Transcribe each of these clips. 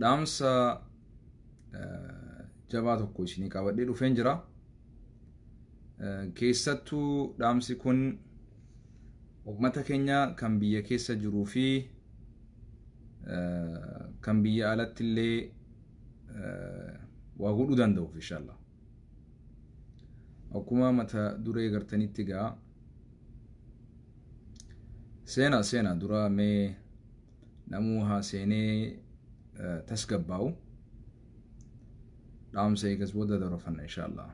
dhaamsa jabaa tokko isinii qabadhee dhufeen jira. Keessattuu dhaamsi kun uummata keenya kan biyya keessa jiruu fi kan biyya alatti illee waa godhuu danda'uuf inshallah. Akkuma mata duree gartanitti egaa seena seena dura mee namuu haa seenee eh, tasgabbaa'u dhaamsa eegas booda darofanna inshaallah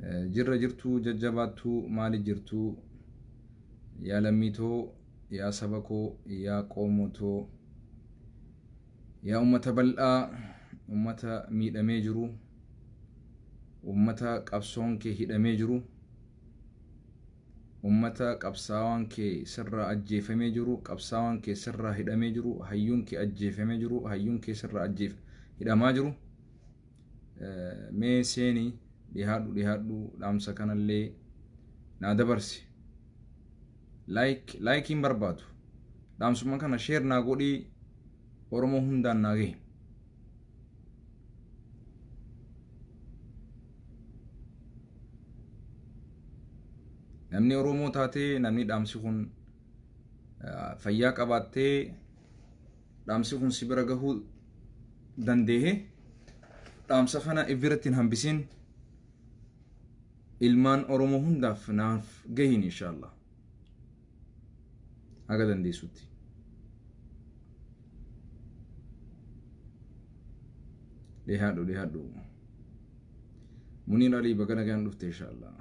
Eh, jirra jirtuu jajjabaattuu maali jirtuu yaa lammii too yaa saba koo yaa qoomoo too yaa ummata bal'aa ummata miidhamee jiru ummata qabsoon kee hidhamee jiru Ummata qabsaawaan kee sirraa ajjeefamee jiru, qabsaawaan kee sirraa hidhamee jiru, hayyuun kee ajjeefamee jiru, hayyuun kee sirraa ajjeef hidhamaa jiru. Mee seeni dhihaadhu dhihaadhu dhaamsa kanallee naa dabarsi. Like like hin barbaadu. Dhaamsuma kana share naa godhii Oromoo hundaan naa gahe. namni Oromoo taatee namni dhaamsi kun fayyaa qabaattee dhaamsi kun si bira gahuu dandeehe dhaamsa kana ifirratti hin hambisin ilmaan Oromoo hundaaf naaf gahiin inshaallah. haga dandeessutti. Dhihaadhu dhihaadhu. Muniir Alii baga nagaan dhufte inshaallah.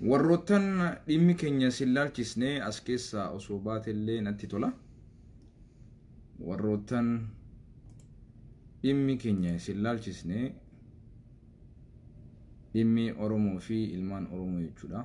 Warroottan dhimmi keenya sin laalchisne as keessaa osoo baatellee natti tola. Warroottan dhimmi keenya sin laalchisne Dhimmi Oromoo fi ilmaan Oromoo jechuudha.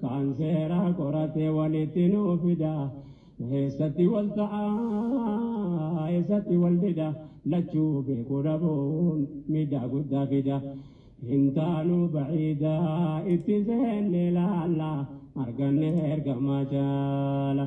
Kan seera qoratee walitti nu fida. Eessatti wal ta'a, eessatti wal dida. Lachuu beekuu dhabuun miidhaa guddaa fida. Hin taanu ba'iida itti seenne laalla. Arganne ergamaa jaala.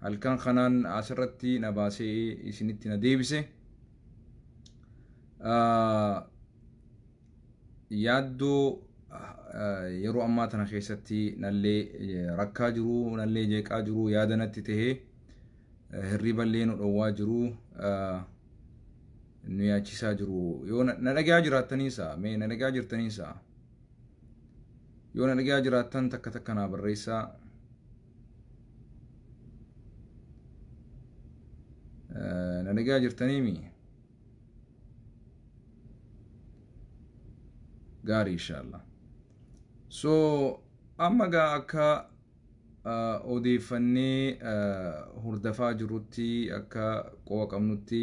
halkan kanaan asirratti na baasee isinitti na deebise. Yaaddoo yeroo ammaa tana keessatti nallee rakkaa jiru, nallee jeeqaa jiru, yaada natti ta'ee hirriballee nu dhowwaa jiru, nu yaachisaa jiru. Yoo na dhagaa jiraattaniisa, mee na dhagaa jirtaniisa. Yoo na dhagaa jiraattan takka takka naa barreessaa. na dhagaa jirtaniimi gaarii inshaallah so amma gaa akka odeeffannee hordafaa jirrutti akka qo'a qabnutti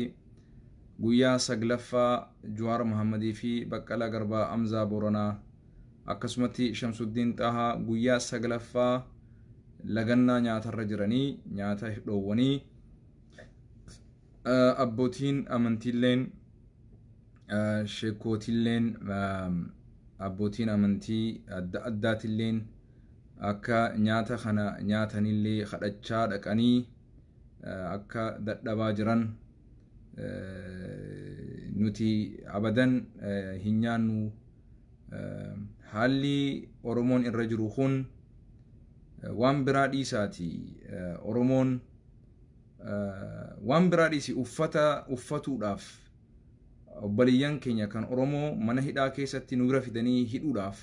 guyyaa saglaffaa Juwaar Mahammadii fi Baqqalaa Garbaa Amzaa Boranaa akkasumatti Shamsuddiin Xaahaa guyyaa saglaffaa lagannaa nyaatarra jiranii nyaata dhoowwanii abbootiin amantiilleen sheekootilleen abbootiin amantii adda addaatilleen akka nyaata kana nyaatanillee kadhachaa dhaqanii akka dadhabaa jiran nuti abadan hin nyaannu haalli Oromoon irra jiru kun waan biraa dhiisaati Oromoon waan biraa dhiisi uffata uffatuudhaaf obboleeyyan keenya kan Oromoo mana hidhaa keessatti nu bira fidanii hidhuudhaaf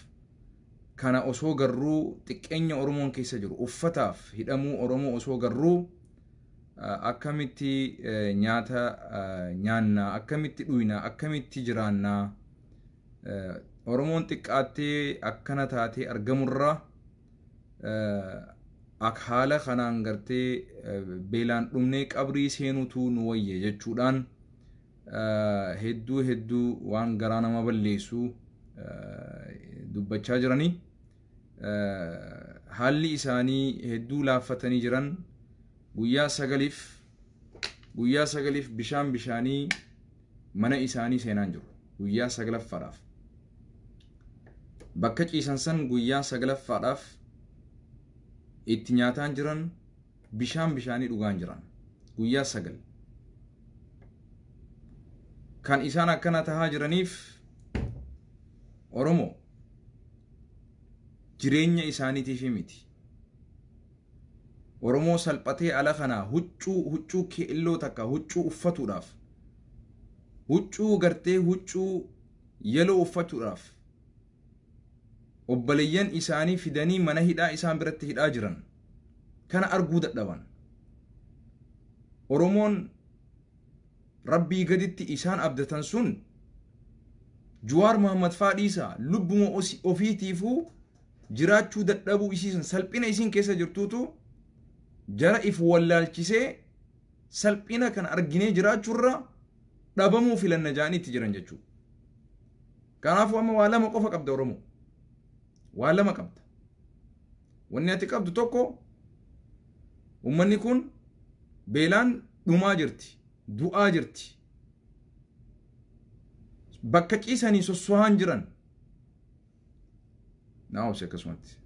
kana osoo garruu xiqqeenya Oromoon keessa jiru uffataaf hidhamuu Oromoo osoo garruu akkamitti nyaata nyaannaa akkamitti dhuyna akkamitti jiraannaa Oromoon xiqqaattee akkana taatee argamurraa ak haala kanaan gartee beelaan dhumnee qabrii seenutu nu wayya jechuudhaan hedduu hedduu waan garaa nama balleessu dubbachaa jiranii haalli isaanii hedduu laaffatanii jiran guyyaa sagaliif guyyaa sagaliif bishaan bishaanii mana isaanii seenaan jiru guyyaa saglaffaadhaaf bakka ciisan san guyyaa saglaffaadhaaf itti nyaataan jiran bishaan bishaanii dhugaan jiran guyyaa sagal kan isaan akkana tahaa jiraniif oromoo jireenya isaaniitiif miti Oromoo salphatee ala kanaa huccuu huccuu keelloo takka huccuu uffatuudhaaf huccuu gartee huccuu yeloo uffachuudhaaf obbaleyyan isaanii fidanii mana hidhaa isaan biratti hidhaa jiran kana arguu dadhaban. Oromoon rabbii gaditti isaan abdatan sun Juwaar Muhammad faa dhiisaa lubbuma osi- ofiitiifuu jiraachuu dadhabuu isii san salphina isiin keessa jirtuutu jara if wallaalchisee salphina kan arginee jiraachuurra dhabamuu filanna ja'anii itti jiran jechuudha. Kanaafuu amma waa lama qofa qabda Oromoo. Waa lama qabda. Wanni ati qabdu tokko uummanni kun beelaan dhumaa jirti, du'aa jirti. Bakka ciisanii sossohaan jiran naa obsi akkasumatti.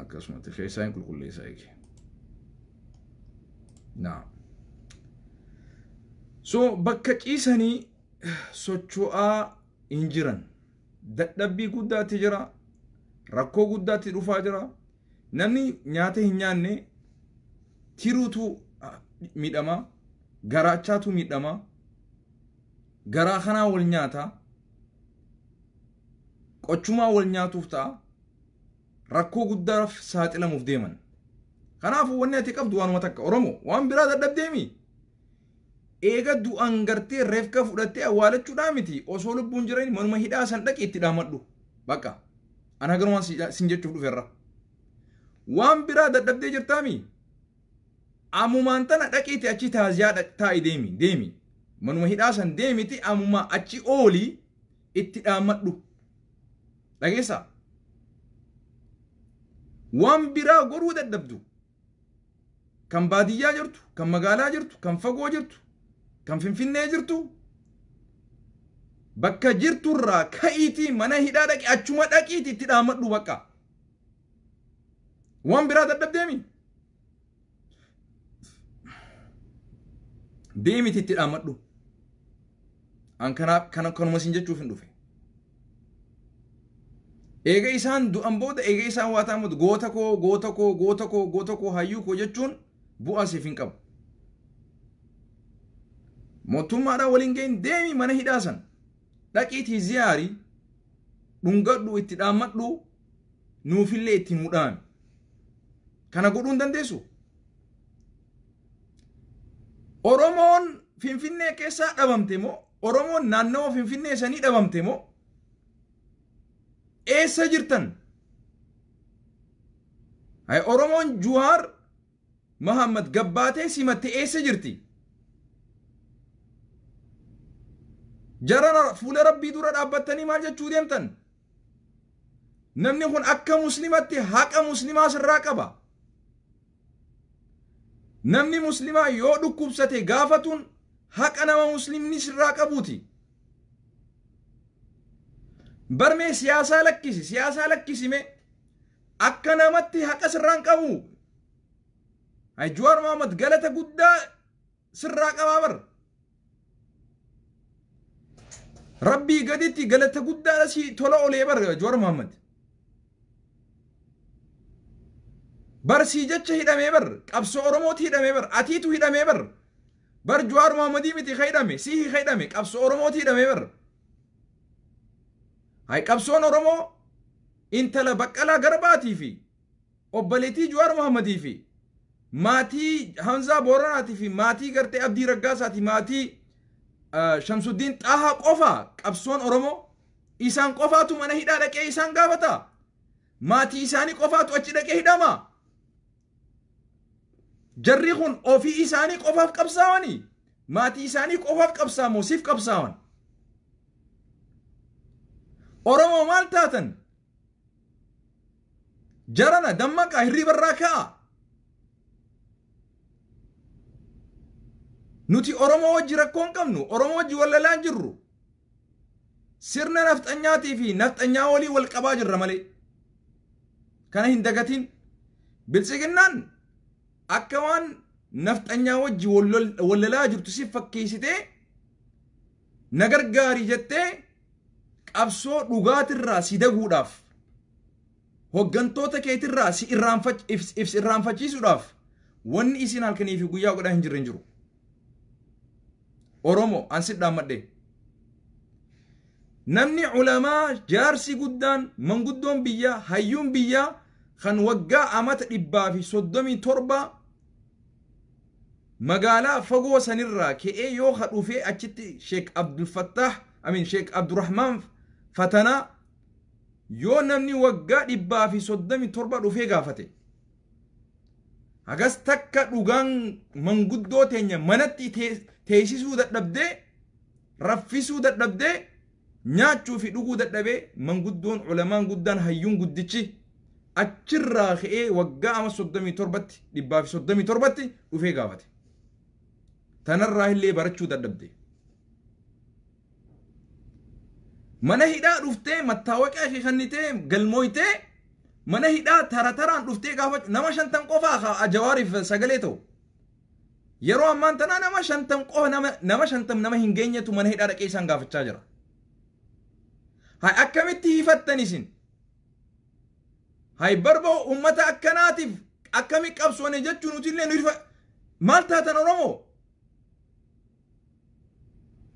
akkasumatti keessaa hin qulqulleessaa eegi. Naa. So bakka ciisanii socho'aa hin jiran. dadhabbii guddaatti jira rakkoo guddaatti dhufaa jira namni nyaata hin nyaanne tiruutu ah, miidhama garaachaatu miidhama garaa kanaa wal nyaata qochumaa wal nyaatuuf ta'a rakkoo guddaaf saaxilamuuf deeman kanaafuu wanni ati qabdu waanuma takka oromoo waan biraa dadhabdeemi Eega du'an gartee refka fudhattee awwaalachudhaa miti osoo lubbuun jirani manuma hidhaa san dhaqi itti dhaamadhu baqa an haganumaan si- sin jechuuf dhuferra waan biraa dadhabdee jirtaami amumaan tana dhaqiiti achi taaziyaa dhaq- taa'i deemi deemi manuma hidhaa san deemiti amumaa achi ooli itti dhaamadhu dhageessaa waan biraa godhuu dadhabdu Kan baadiyyaa jirtu, kan magaalaa jirtu, kan fagoo jirtu, kan Finfinnee jirtu bakka jirtu irraa ka'iitii mana hidhaa dhaqi achuma dhaqiiti itti dhaammadhu bakka. Waan biraa dadhabdeemi. Deemiti itti dhaammadhu. An kanuma isin jechuuf hin dhufe. Eega isaan du'an booda eega isaan waa ta'an booda goota koo goota koo goota koo goota koo hayyuu koo jechuun bu'aa siif hin qabu. Mootummaadhaa waliin ga'in deemi mana hidhaa san dhaqiitii ziyaari dhungadhu itti dhaammadhu nuufillee itti nuu dhaami. Kana godhuu hin dandeessu. Oromoon Finfinnee keessaa dhabamte moo Oromoon naannawa Finfinnee sanii dhabamte moo eessa jirtan? Hay Oromoon Juhaar Mahammad gabbaatee simatte eessa jirti? Jarana fuula rabbii dura dhaabbattanii maal jechuu deemtan? Namni kun akka muslimatti haqa muslimaa sirraa qaba. Namni muslimaa yoo dhukkubsate gaafatuun haqa nama muslimni sirraa qabuuti. Barmee siyaasaa lakkisi siyaasaa lakkisime akka namatti haqa sirraan qabu. Jawaar Mohaammed galata guddaa sirraa qabaa bar rabbii gaditti galata guddaadha si tola olee bar Jawaar Muhammad bar sii jecha hidhamee bar qabsoo Oromooti hidhamee bar atiitu hidhamee bar bar Jawaar Muhammadii miti ka hidhame sii ka hidhame qabsoo Oromooti hidhamee bar hay qabsoon Oromoo intala baqqalaa garbaatii fi Obboleettii Juwaar Mohammadii fi maatii Hamzaa Booranaati fi maatii gartee Abdii Raggaasaati maatii Shamsuddiin Xaahaa qofa qabsoon Oromoo? Isaan qofaatu mana hidhaa dhaqee isaan gaafata? Maatii isaanii qofaatu achi dhaqee hidhama? Jarri kun ofii isaanii qofaaf qabsaawanii? Maatii isaanii qofaaf qabsaamoo siif qabsaawan? Oromoo maal taatan? Jarana dammaqaa hirriiba irraa ka'aa. Nuti Oromoo wajji rakkoo hin qabnu. Oromoo wajji wal lalaa hin jirru. Sirna nafxanyaatii fi nafxanyaa walii wal qabaa jirra malee. Kana hin dagatiin. Biltsiginnaan akka waan nafxanyaa wajji wal lol- wal lalaa jirtu si fakkeessitee na gargaari jettee Qabsoo dhugaatirraa si daguudhaaf, hoggantoota keetirraa si irraanfach ifs ifs irraanfachiisuudhaaf wanni isiin halkanii fi guyyaa godhaa hin jirre hin jiru. Oromo an si dhaammadhee. Namni ulamaa jaarsi guddaan manguddoon biyyaa hayyuun biyyaa kan waggaa amata dhibbaa fi soddomii torbaa Magaalaa fagoo sanirraa ke'ee yoo ka dhufee achitti Sheek Abdulfattaah I mean Sheek Abdurahmaan Fatanaa yoo namni waggaa dhibbaa fi soddomii torba dhufee gaafate hagas takka dhugaan manguddoo teenya manatti teessisuu dadhabdee raffisuu dadhabdee Nyaachuu fi dhuguu dadhabee manguddoon, ulamaan guddaan, hayyuun guddichi achirraa ka'ee waggaa ama 37tti, 137tti dhufee gaafate. Tanarraa illee barachuu dadhabde. Mana hidhaa dhuftee mattaawaqiyaa kee kannitee galmooytee mana hidhaa tara taraan dhuftee gaafachuu nama shantan qofaa ka Jawaariif sagalee ta'u. Yeroo ammaan tanaa nama shantam qofa nama nama shantam nama hin geenyetu mana hidhaa dhaqee isaan gaafachaa jira. Hay akkamitti hiifattan isin? Hay barba uummata akkanaatiif akkami qabsoone jechuun nuti illee nu hirfa maal taatan Oromoo?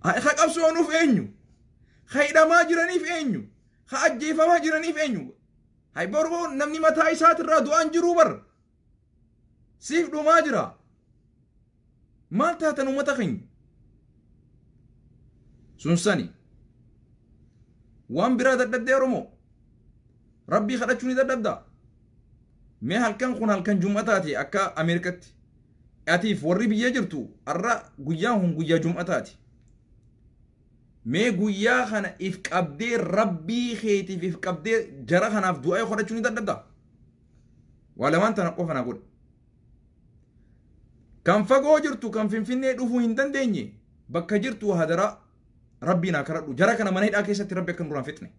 Hay ka qabsoonuuf eenyu? Ka hidhamaa jiraniif eenyu? Ka ajjeefamaa jiraniif eenyu? Hay barba namni mataa isaatirraa du'aan jiruu bar. siif dhumaa jira maal taatan ummata keenya sun sani waan biraa dadhabdee oromoo rabbii kadhachuu ni dadhabda mee halkan kun halkan jum'ataati akka ameerikatti atiif warri biyya jirtu har'a guyyaan kun guyyaa jum'ataati mee guyyaa kana if qabdee rabbii keetiif if qabdee jara kanaaf du'aa kadhachuu ni dadhabda waa lamaan tana qofa na godha kan fagoo jirtu kan finfinnee dhufuu hin dandeenye bakka jirtu hadaraa rabbii naa karadhu jara kana mana hidhaa keessatti rabbi akka nurraan fixne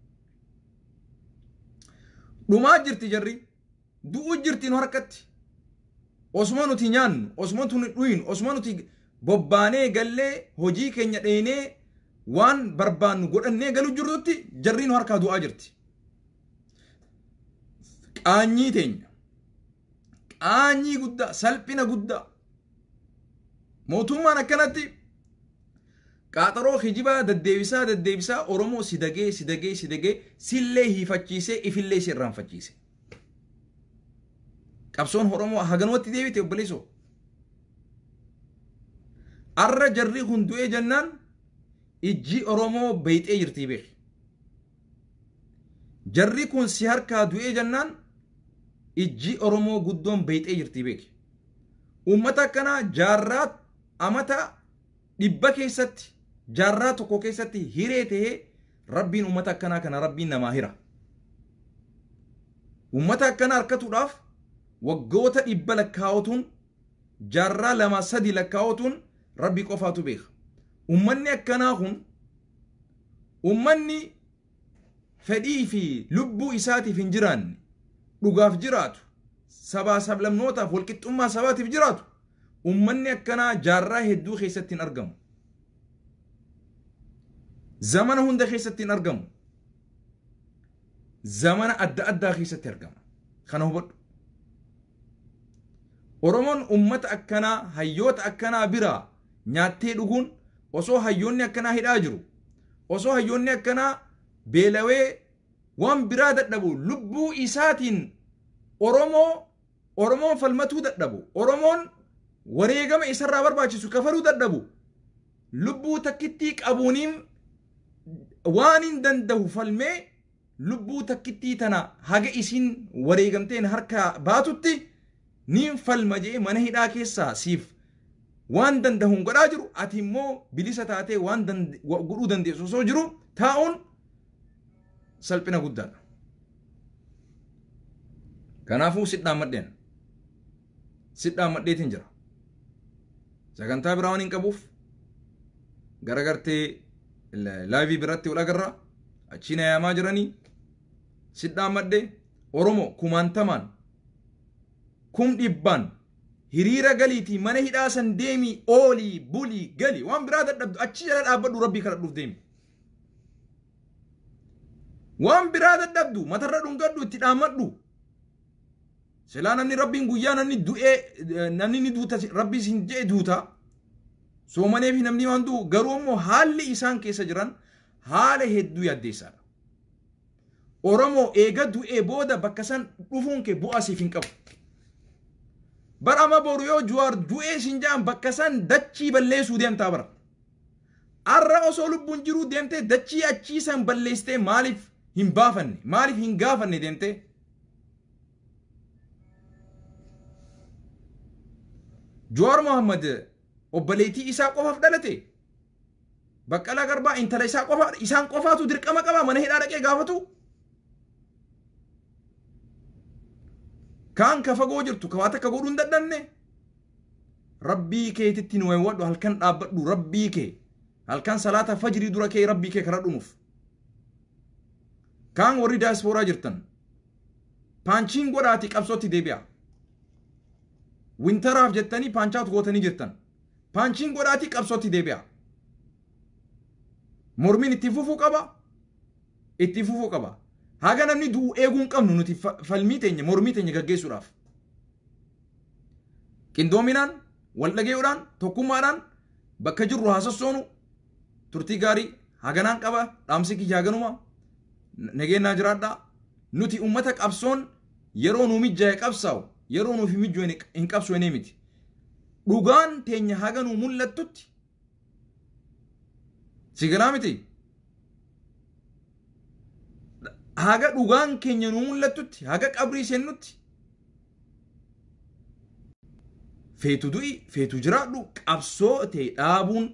dhumaa jirti jarri du'uu jirti nu harkatti osuma nuti nyaannu osuma nuti dhuynu osuma nuti bobbaanee gallee hojii keenya dheenee waan barbaannu godhannee galu jirrutti jarri nu harkaa du'aa jirti qaanyii teenya qaanyii guddaa salphina guddaa mootummaan akkanatti qaaxaroo kijibaa daddeebisaa daddeebisaa oromoo si dagee si dagee si dagee sillee hiifachiisee ifillee si irraanfachiise qabsoon oromoo haganumatti deebite obboleessoo arra jarri kun du'ee jennaan ijji oromoo beeyxee jirtii beeki Jarri kun si harkaa du'ee jennaan ijji Oromoo guddoon beeyxee jirtii beeki. Uummata akkanaa jaarraa amata dhibba keessatti jaarraa tokko keessatti hiree ta'ee rabbiin uummata akkanaa kana rabbiin namaa hira. Uummata akkanaa harkatuudhaaf waggoota dhibba lakkaa'otuun jaarraa lama sadi lakkaa'otuun rabbi qofaatu beeka. Uummanni akkanaa kun Ummanni fedhii fi lubbuu isaatiif hin jiraanne, dhugaaf jiraatu, sabaa sablammootaaf walqixxummaa sabaatiif jiraatu, ummanni akkanaa jaarraa hedduu keessatti hin argamu. Zamana hunda keessatti hin argamu. Zamana adda addaa keessatti argama. Kana hubadhu. Oromoon ummata akkanaa hayyoota akkanaa biraa nyaattee dhuguun osoo hayyoonni akkanaa hidhaa jiru osoo hayyoonni akkanaa beelawee waan biraa dadhabu lubbuu isaatiin Oromoo Oromoon falmatuu dadhabu Oromoon wareegama isarraa barbaachisu kafaluu dadhabu lubbuu takkittii qabuuniin waan hin danda'u falmee Lubbuu takkittii tana haga isiin wareegamteen harkaa baatutti niin falma je'ee mana hidhaa keessaa siif waan dandahuun godhaa jiru ati immoo bilisa taatee waan godhuu dandeessu osoo jiru taa'uun salphina guddaadha. Kanaafuu si dhaammadheen. si dhaammadheetiin jira. Sagantaa biraa waan hin qabuuf gara gartee laayivii biratti wal agarra achiin ayaamaa jiranii si dhaammadhe Oromoo kumaantamaan kum dhibbaan hiriira galiitii mana hidhaa san deemii oolii bulii gali waan biraa dadhabdu achi jala dhaabbadhu rabbii kadhadhuuf deemi. Waan biraa dadhabdu matarra dhungadhu itti dhaammadhu. Silaa namni rabbiin guyyaa namni du'ee namni ni duuta rabbiis hin je'e duuta soomanee fi namni waan du'u garuu immoo haalli isaan keessa jiran haala hedduu yaaddeessaadha. Oromoo eega du'ee booda bakka san dhufuun kee bu'aa siif hin qabu. Bara amma boru yoo juwaar du'ee siin ja'an bakka san dachii balleessuu deemtaa bara. Arra osoo lubbuun jiruu deemtee dachii achii san balleessitee maaliif hin baafanne maaliif hin gaafanne deemtee Jawaar Mohammad obboleettii isaa qofaaf dhalate? Baqqalaa Garbaa intala isaa qofa isaan qofaatu dirqama qaba mana hidhaa dhaqee gaafatu? Kaan ka fagoo jirtu ka waa takka godhuu hin dadhabne? Rabbii keetitti nu wayiwadhu halkan dhaabbadhu rabbii kee halkan salaata fajrii dura kee rabbii kee kadhadhu nuuf. Kaan warri daayispooraa jirtan paanchiin godhaatii qabsootti deebi'a. Wintaraaf jettanii paanchaawut gootanii jirtan. Paanchiin godhaatii qabsootti deebi'a. Mormiin itti fufuu qaba. Itti fufuu qaba. Haga namni du'u eeguu hin qabnu nuti fa- falmii teenya mormii teenya gaggeessuudhaaf. Qindoominaan, wal dhagayuudhaan, tokkummaadhaan bakka jirru haa sossoonu, turtii gaarii haganaan qaba dhaamsi kiyya haganuma nageenyaa jiraadha nuti ummata qabsoon yeroo nu mijjaa'e qabsaa'u yeroo nuuf hin mijjooyne hin qabsoofnee miti dhugaan teenya haga nu mul'attutti si galaa miti haga dhugaan keenya nu mul'attutti haga qabrii seennutti Feetu du'i, feetu jiraadhu qabsoo tee dhaabuun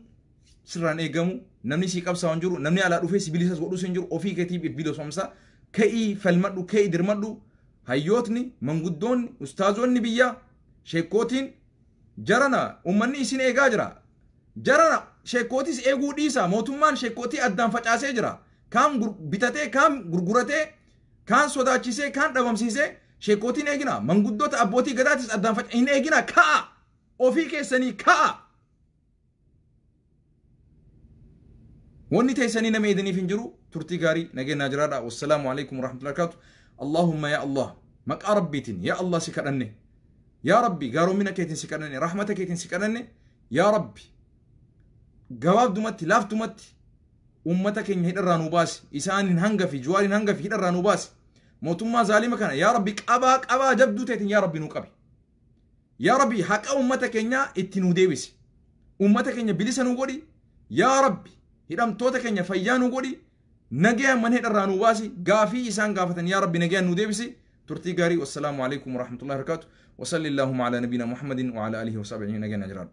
sirraan eegamu namni sii qabsaa hin jiru namni alaa dhufee si bilisas godhus hin jiru ofii keetiif if bilisomsa ka'ii falmadhu ka'ii dirmadhu hayyootni manguddoonni ustaazonni biyyaa sheekkootiin jarana ummanni isin eegaa jira jarana sheekkootis eeguu dhiisa mootummaan sheekkootii addaan facaasee jira kaan bitatee kaan gurguratee Kaan sodaachisee, kaan dhabamsiisee sheekkootiin eeginaa, manguddoota abbootii gadaatis addaan faca hin eeginaa ka'a! Ofii keessanii ka'a! Wanni teessanii nama eedaniif hin jiru turtii gaarii nageenyaa jiraadha. Wassalaamu alaikum warahmatullahi wabarakatuh. Allahumma yaa Allah maqaa Rabbiitiin yaa Allah si kadhanne. Yaa Rabbi gaaromina keetiin si kadhanne rahmata keetiin si kadhanne yaa Rabbi gabaabdumatti laaftumatti Ummata keenya hidharraa nuu baasi. Isaanin hangafi, Juwaarin hangafi hidharraa nuu baasi. Mootummaa zaalima kana yaa Rabbi qabaa qabaa jabduu teetiin yaa Rabbi nuu qabi. Yaa Rabbi haqa ummata keenyaa itti nuu deebisi. Ummata keenya bilisa nuu godhi. Yaa Rabbi hidhamtoota keenya fayyaa nuu godhi. Nagayaan mana hidharraa nuu baasi. Gaafii isaan gaafatan yaa Rabbi nagayaan nuu deebisi. Turtii gaarii wassalaamu alaikum warahmatullahi wabarakatuh. Wasalli Allaahumma ala nabiina Muhammadin wa ala alihi wa sahbihi ajma'iin nagayaan haa jiraadhu.